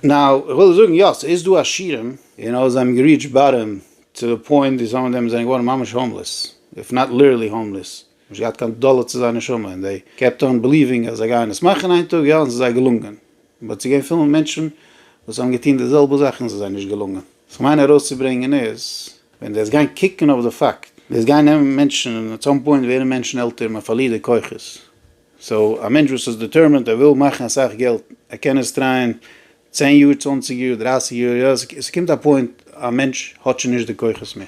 נאו, איך וויל זאגן יא, ס'איז דא עשירים. און אויב זיי האבן געריעטשט באטאם טו די פוינט ווי סאם אוו דעם זענען געווארן ממש האומלעס, איף נאט ליטערלי האומלעס, נישט געהאט קיין דאלער צו זייער נשמה, און זיי קעפט אן בעליווינג אז זיי גייען עס מאכן איין טאג, יא, און ס'איז זיי געלונגען. באט ס'איז געווען פיל מענטשן וואס האבן געטון די זעלבע זאך און ס'איז זיי נישט געלונגען. וואס איך מיין ארויסצוברענגען איז, ווען דו וועסט גיין קוקן אויף די פאקט, וועסט גיין נעמען מענטשן, און אט סאם פוינט ווערן מענטשן עלטער, מען פארלירט די כוחות, סאו א מענטש וואס איז דיטערמינד ער וויל מאכן אסאך געלט ער קען עס טרייען צען יאר צוואנציג יאר דרייסיג יאר יא עס קומט א פוינט א מענטש האט שוין נישט די כוחות מער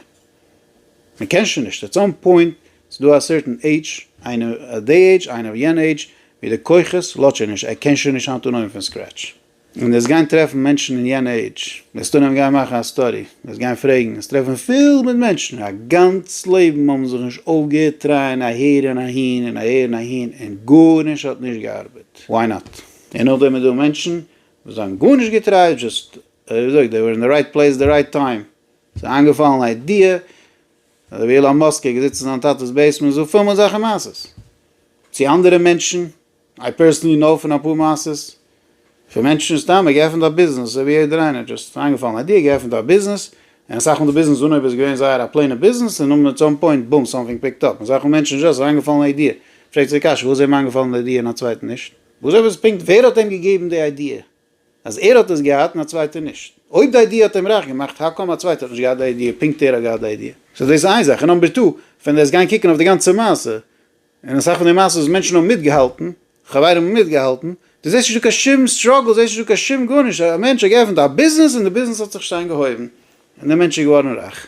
מען קען שוין נישט עט סאם פוינט סאיז דא א סערטען עידזש איינער אט דעי עידזש איינער אויף יענע עידזש ווי די כוחות לאט שוין נישט ער קען שוין נישט אנטנויען פון סקרעטש און וועסט גיין טרעפן מענטשן אין יענע עידזש, וועסט אנהייבן גיין מאכן א סטאדי, וועסט גיין פרעגן, וועסט טרעפן פיל מיט מענטשן וואס א גאנץ לעבן האבן זיך נישט אויפגעהערט טרייען אהער און אהין און אהער און אהין און גארנישט האט נישט געארבעט, וואי נאט? און נאכדעם איז דא מענטשן וואס זיי האבן גארנישט געטרייט, דזשאסט ווי מ'זאגט דעי ווער אין די רייט פלעיס די רייט טיים, ס'איז איינגעפאלן א איידיע, אזויווי אילאן מאסק איז געזיצן אין זיין טאטע'ס בעיסמענט זאגט פיל מיט זאכן מעשות צו אנדערע מענטשן, איי פערסענלי נאו פון אפאר מעשות פון מענטשן סתם געעפענט א ביזנעס אזוי ווי יעדער איינער דזשאסט איינגעפאלן איידיע געעפענט א ביזנעס און אסאך מאל די ביזנעס אנהויב איז געווען זייער א פלעינע ביזנעס און אט סאם פוינט בום סאמטינג פיקט אפ און אסאך מאל מענטשן דזשאסט איינגעפאלן א איידיע פרעגט זיי די קשיא וואס איז אים איינגעפאלן די איידיע און א צווייטן נישט וואס עפעס פונקט ווער האט אים געגעבן די איידיע אז ער האט עס געהאט און א צווייטער נישט אויב די איידיע האט אים רייך געמאכט האו קאם א צווייטער האט נישט געהאט די איידיע פונקט ער האט געהאט די איידיע סאו דאס איז איין זאך און נאמבער טו ווען ער איז געגאנגען קוקן אויף די גאנצע מעשה און אסאך פון די מעשות וואס מענטשן האבן מיטגעהאלטן, חברים האבן מיטגעהאלטן, דו זעסט נישט דא קיין שום סטראגל, דו זעסט נישט דא קיין שום גארנישט, א מענטש האט געעפנט א ביזנעס און די ביזנעס האט זיך שטיין געהויבן, און דער מענטש איז געווארן רייך.